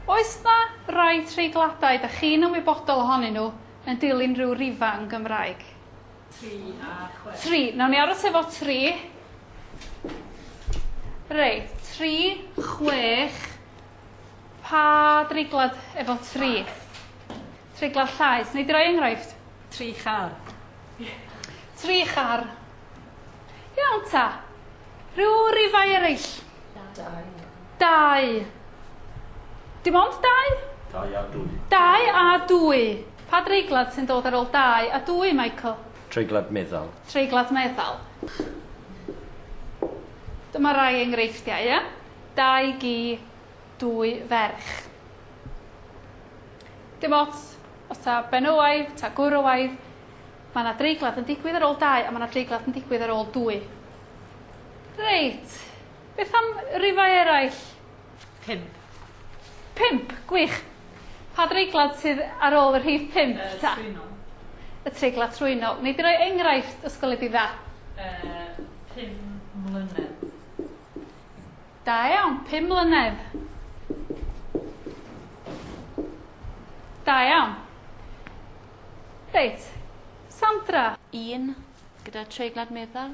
Oes 'na rai treigladau 'da chi'n ymwybodol ohonyn nhw yn dilyn rhyw rifa yn Gymraeg? Tri a chwe. Tri. Nawn ni aros efo tri. Reit, tri, chwech. Pa dreiglad efo tri? Treiglad llaes, wnei di roi enghraifft? Tri char. Tri char. Iawn ta. Rhyw rifau eraill? Dau. Dau. Dim ond dau? Dau a dwy. Dau a dwy. Pa dreiglad sy'n dod ar ôl dau a dwy, Michael? Treiglad meddal. Treiglad meddal. Dyma rai enghreifftiau, ie? Dau gi, dwy ferch. Dim ots os ta benywaidd, ta gwrywaidd, mae yna dreigladd yn digwydd ar ôl dau a mae yna dreigladd yn digwydd ar ôl dwy. Reit, beth am rifau eraill? Pump. Pump, gwych. Pa dreiglad sydd ar ôl y rhif pump uh, ta? Trwynol. Y treiglad trwynol. Neu di roi enghraifft ysgol i di dda? Uh, pum mlynedd. Da iawn, pum mlynedd. Da iawn. Reit, Sandra. Un, gyda treiglad meddal.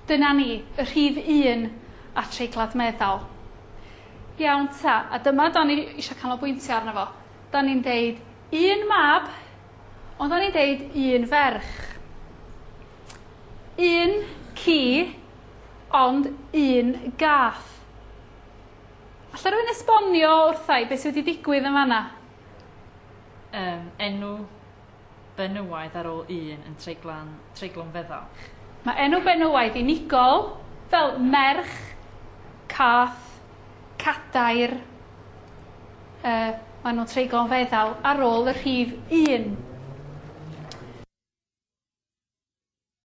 Dyna ni, y rhif un a treiglad meddal. Iawn ta, a dyma da ni eisiau canolbwyntio arno fo. Da ni'n deud un mab, ond da ni'n deud un ferch. Un ci, Ond un gath. Alla rywun esbonio wrtha i be' sy wedi digwydd yn fan 'na? Yym enw benywaidd ar ôl un yn treiglan treiglwn feddal. Mae enw benywaidd unigol, fel merch, cath, cadair, yy maen nhw'n treiglon feddal ar ôl y rhif un.